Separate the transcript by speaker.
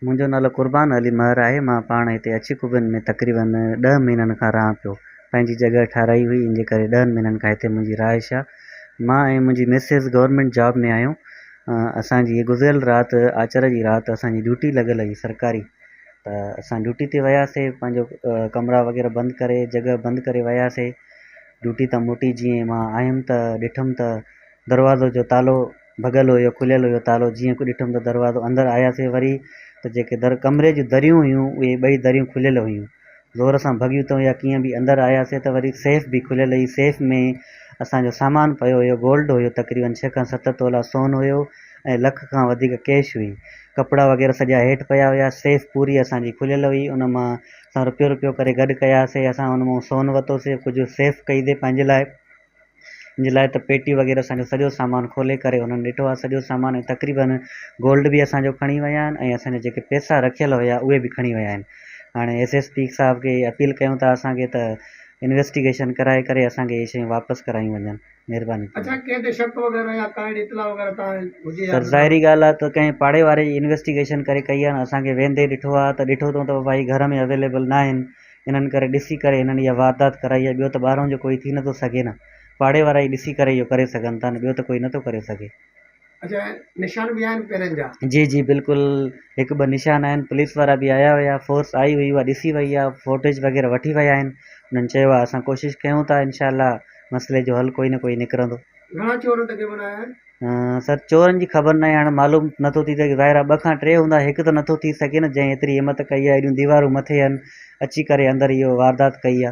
Speaker 1: منهنجو نالو قربان علي مهر آهي مان پاڻ هتي اڇي خوبين ۾ تقريبن ڏهه مهينن کان رهان پيو پنهنجي جڳهه ٺهرائي هئي ان جي ڪري ڏهن مهينن کان هتي منهنجي رهائش آهي مان ۽ منهنجي مسز گورنمينٽ جاب ۾ آهيون اسان جي گذريل رات آچر جي رات اسان جي ڊيوٽي لڳل هئي سرڪاري ته اسان ڊيوٽي تي وياسي پنهنجو ڪمرا وغيره بند ڪري جڳهه بند ڪري وياسي ڊيوٽي تان موٽي جيئن ما آيم ته ڏٺم ته دروازو جو تالو ڀڳل هيو کليل هيو تالو جيئن کي ڏٺم ته دروازو اندر آياسي وري ته جيڪي در ڪمري جي دريون هيون اهي ٻئي دريون کليل هيون زور سان ڀڳيون تون يا ڪيئن به اندر آياسين ته وري سيف به کليل هئي سيف ۾ اسان جو سامان پيو هيو گولڊ هيو تقريبن ڇهه کان ست تولا سون هيو ۽ لک کان وڌيڪ ڪيش هئي ڪپڙا وغيره سڄا هيٺ پيا هيا سيف پوري اسان جي کليل هئي ان مان اسان رپيو رپيو ڪري گڏ ڪياسين اسان ان مان سون ورتوسي ڪجهه سيف ڪئي تي پنهنجي لاء ان جي لاء ته پيٽي وغيره اسان جو سڄو سامان کولي ڪري انهن ڏٺو آهي سڄو سامان ۽ تقريبن گولڊ به اسان جو کڻي ويا آهن ۽ اسان جا جيڪي پيسا رکيل هيا اهي به کڻي ويا آهن هاڻي ايس ايس پي صاحب کي اپيل ڪيون ٿا اسان کي ته انويسٽيگيشن ڪرائي ڪري اسان کي اهي شيون واپس ڪرايون وڃن مهرباني ٿيندي اڇا ڪنهن تي شڪ وغيره يا ڪا اهڙي اطلاع وغيره توهان هجي يا سر ڏنو ظاهري ڳالهه آهي ته ڪنهن پاڙي واري جي انويسٽيگيشن ڪري ڪئي آهي اسان کي ويندي ڏٺو آهي ته ڏٺو اٿئون ته ڀائي گهر ۾ اويليبل ناهن انهن ڪري ڏسي ڪري انهن اها واردات ڪرائي آهي، ٻيو ته ٻاهران جو ڪوئي ٿي نٿو سگهي نه پاڙي وارا ئي ڏسي ڪري اهو ڪري سگهن ٿا نه ٻيو ته ڪوئي نٿو ڪري سگهي. اڇا
Speaker 2: نشان به آهن پيرن جا. جي جي بلڪل
Speaker 1: هڪ ٻه نشان آهن پوليس وارا به آيا هيا فورس آئي هئي اها ڏسي وئي آهي فوٽيج وغيره وٺي ويا آهن انهن چيو آهي اسان ڪوشش ڪيون ٿا انشاء الله مسئلي جو حل ڪوئي نه ڪوئي نڪرندو. گهڻا چور تقريبن
Speaker 2: آيا آهن. سر چورن
Speaker 1: جي خبر ناهي هاڻي معلوم نٿو ٿي سگهي ظاهر آهي ٻه کان ٽي هوندا هڪ ته نٿو ٿي سگهي نه جنهن ايتري همٿ ڪئي آهي ايڏيون ديوارون مٿي آهن اچي ڪري اندر اهو واردات ڪئي آهي